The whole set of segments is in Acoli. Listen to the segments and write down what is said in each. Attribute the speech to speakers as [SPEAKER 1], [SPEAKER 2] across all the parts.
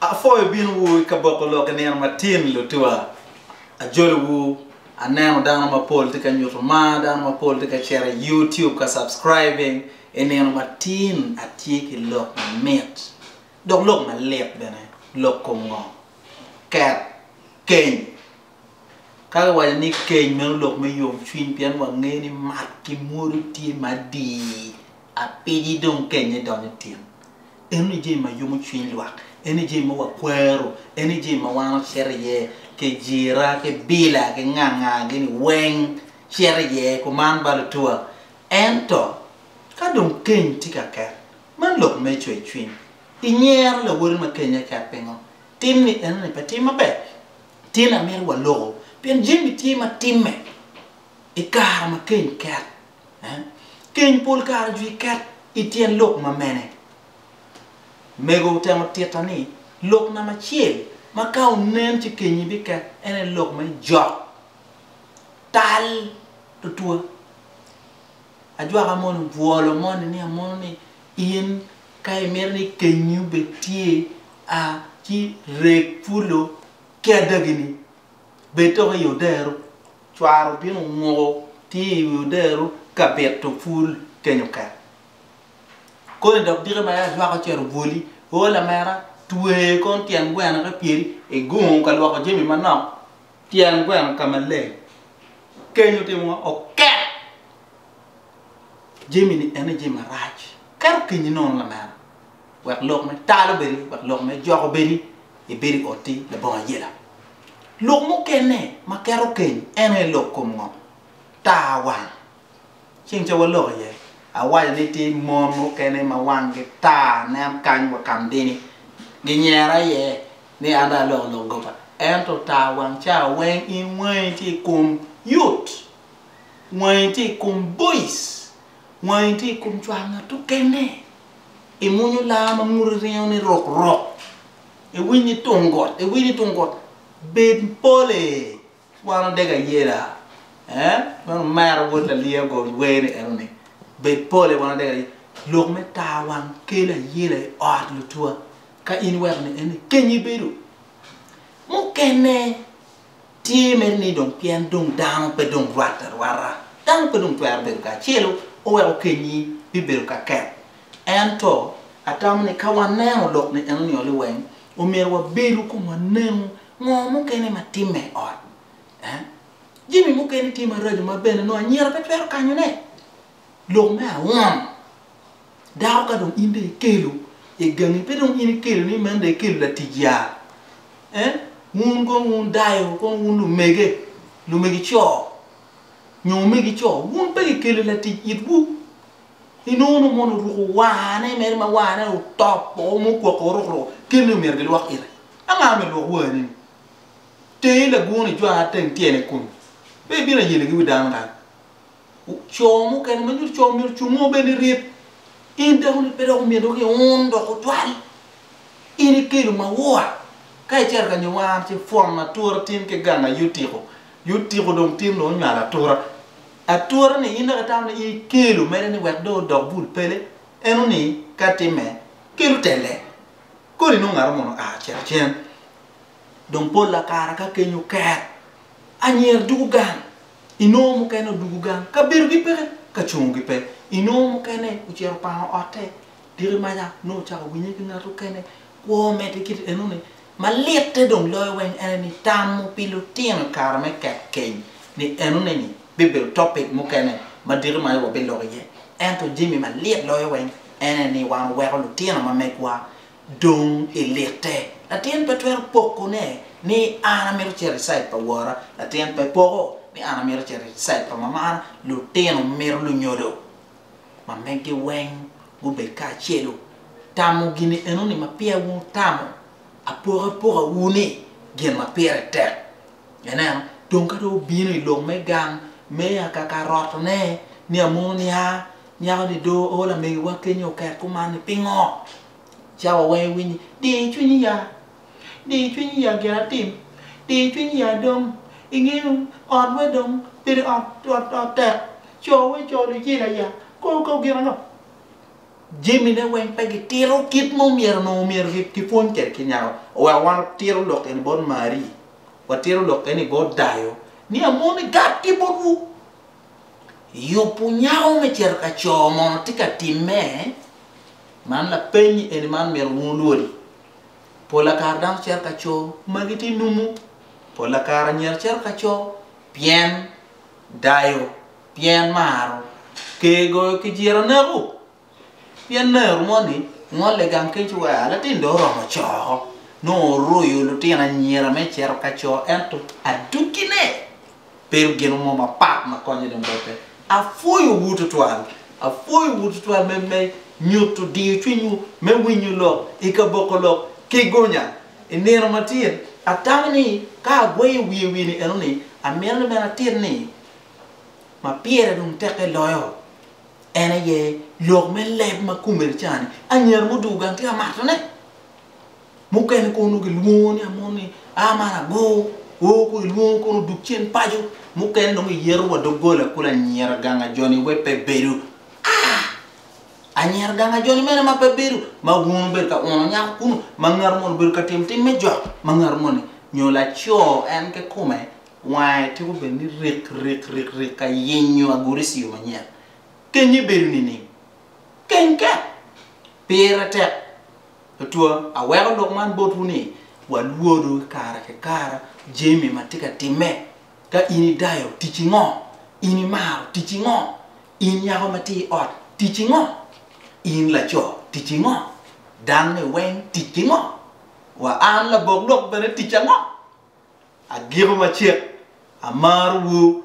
[SPEAKER 1] Apwoyo binowu i kaboko lok i nino matin lutwa. Ajolowu, aneno dano mapol tye ka nyuto mar, dano mapol tye ka cito i YouTube ka subscribing. I nino matin atye ki lok mamit dok lok malit bene. Lok kom ngo? Ket, keny. Ka kiwaco ni keny meno lok me yomcwiny pien wangeyo ni mat ki mwodo tye madii. Apidi dong kenne donyo tin. Eno ni jami ma yomo cwiny lwak, eno ni jami ma wakwero, eno ni jami ma wan ocito iye, kijira, ki bila, ki nganga, gini weng cito iye kuman ba lutua. Ento, ka dong keny tye ka ket, man lok me cwercwiny. Inyero lawoti ma kenye ket pingo? Tim ni eno ni pe tim maber. Tyen ni amito waloko pien jami tye ma timme i kare ma keny ket. Keny pol kare ojwir ket i tyen lok ma mene? Mego otemo tita ni, Lok namba acel ma ka onen ci kenyi biket en aye lok ma ijok tal tutwa. Ajwaka moni bwolo moni ni amono ni in ka imito ni kenyi obed tye, a ci reg pwolo ki adagini. Bed dok i odero. Cwaro bino muko tye i wi odero ka bito pul kenyo ket. Koni dok dike ma ya jwako cito obwoli. O lamera, twe kong tyen gweno ki pyeri i gung ka lwoko jami manok. Tyen gweno ka maleng. Kenyo timo ma oket jami-ni ene jami marac. Keto kenyi nono lamera. wek lok me tal obedi, wek lok me jok obedi, ibedo i ot ti labongo ayela. Lok mukene ma keto keny en aye lok kom ngo? Taa wang. Ceng ca wa lok iye, awaco ni ti mon mukene ma wang gi taa nen kany wa kam dini, gi nyera iye ni an dong aloko lok goba. Ento taa wang ca weng in wangi ti i kom yut, wangi ti i kom boice, wangi ti i kom cwar ngat okene. imwonyo laa ma ngute ringo ni rok rok, iwiny ni tung got, iwiny ni tung got, bed pole, wan odege ayela, eh, man omero wod lalia go wer ni eno ni, bed pole wan odege ayela, lok me tar wang kelo ayela i ot lutwa, ka in iweko ni eno ni kenyi bedo mukene. Tye mere ni dong pien dong dano pe dong rwatte arwata, dano pe dong twero bedo kacelo, oweko kenyi bibedo ka ket. Ento, atamo ni ka waneno lok ni eno ni oli weng, omyero wabedo kun wanengo ngo mukene ma timme i ot. Jami mukene tye maraco ma bene nongo anyira pe twero kanyone. Lok me angwen, dako ka dong in dong ikelo i gangi pe dong in ikelo ni meno dong ikelo latic yaa eh wun kong wun dayo kong wun lumege, lumege co nyo omege co wun pe kikelo latic itwu inongo nongo mono oruko warne mere ma warne otopo mukwoko oruk ruko kit ni omyero gilwok ite. Anga myero lwok warneni? Teri lagwong ijwanga teng tyene kunu pe ibino ayelegi wi dano kany. co mukene ma nyuto co myero cung mo bene iryep. In dako ni pe dok omyero dok iun dok otwal. In ikelo maua ka icito ka nyuwar ci pwon atura tin ki ganga yotiko. Yotiko dong tin dong onywalo atura. Atura ni in dok itamo ni in ikelo mere ni wek dong odok bul pele. Eno ni ka timme kelo telle. Kodi nongo ngat omono oa ocito cen. Dong pol la kare ka keny oker anyira dugo gang Inongo mukene odwogo gang, kabedogi peke, ka congogi pe. Inongo mukene ocito opango otte. Tika maca nongo ocako winye ki ngat okene? Kwo me tye kit enoni. Malitte dong loyo weng ene ni tamo pi lutino i kare me ket keny ni enoneni bibedo topic mukene ma diki maca wabiloko iye. Ento jami malit loyo weng ene ni wan weko lutino ma megwa dong ilite. Latin pe twero pokone ni, 'An amito cito i cait pa wora. Latin pe poko ni, 'An amito cito i cait pa mamana. Lutino mito lunyodo ma megi weng gubed kacelu. Tamo gini enoni ma peya wutamo apokapokawu ni gin ma pire tek. Ineno, dong ka dong wubino i lok me gang me akaka rotone, ni amono nia, Nyako-ni dong oo lamegiwa kenyo oket kuman ni, Pingo? Cawa weng iwinyi. Di cwinyi ya. Di cwinyi ya gin atim. Di cwinyi ya dong. Ingeyo, otwa dong pire ot tek. Co wa ico lujila ya. Kor kor gin ango? Jamine weng pe gitito kit ma omyero onongo omyero gipwony kwede ki nyako. Oweko wan watito lok eni bot Marie, watito lok eni bot dayo, ni amoni gat ki botwu. yubu nyako me cito ka co mono tye ka timme? Man lapeny eni ma myero wun wulwodi. Pola kare dano cito ka co ma gitye numu. Pola kare anyira cito ka co pien dayo, pien maro, ker goyo kijira neko, Pien nero moni ngolle gang kec ci weko latin dong oromo coo, nongo oroyo lutino anyira me cito ka co ento adogine bedo gin mo mapat ma konye dong bote. Apwoyowu tutwal, apwoyowu tutwal me me nyuto diyo cwinywu, me winyo lok, i ka boko lok ki gonya. I nino ma tye-ni, atamo ni ka agweyo wiye i wi-ni eno ni, amito ni bene atit ni ma pire dong tekke loyo En aye lok me leb ma kome lica-ni, anyira mudugo gang tye ka matone. Mukene kono gilwongo ni amon ni a man ago, o kun ilwongo kono duk cen paco, mukene dong iyeto wa doggola kulu anyira gang ajoni wai pe bedo. Ah! Anyira gang ajoni mene ma pe bedo, ma wun wubedo ka uno nyako kunu, ma ngatu moni obedo ka timo tim me jok, ma ngatu moni nyo laco en kikome Wange tuko bedo ni rik rik rik rik ka yenyo agurisi yo manyen. Kenye bedo nining? Keny kek! Pire tek. Otwa, aweko lok man botwu ni, walwodu i kare ki kare jami ma tye ka timme. Ka in i dayo, ticci ngo? In i maro, ticci ngo? In nyako ma tye i ot, ticci ngo? In laco, ticci ngo? Dano ni weng, ticci ngo? Wa an labok lok bene, ticca ngo? Agiko macek, amarowu,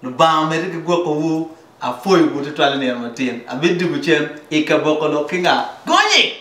[SPEAKER 1] Lubanga omedde ki gwokowu, apwoyowu tutwal i nino matin, abidwogo cen i ka boko lok ki nga? Gonye!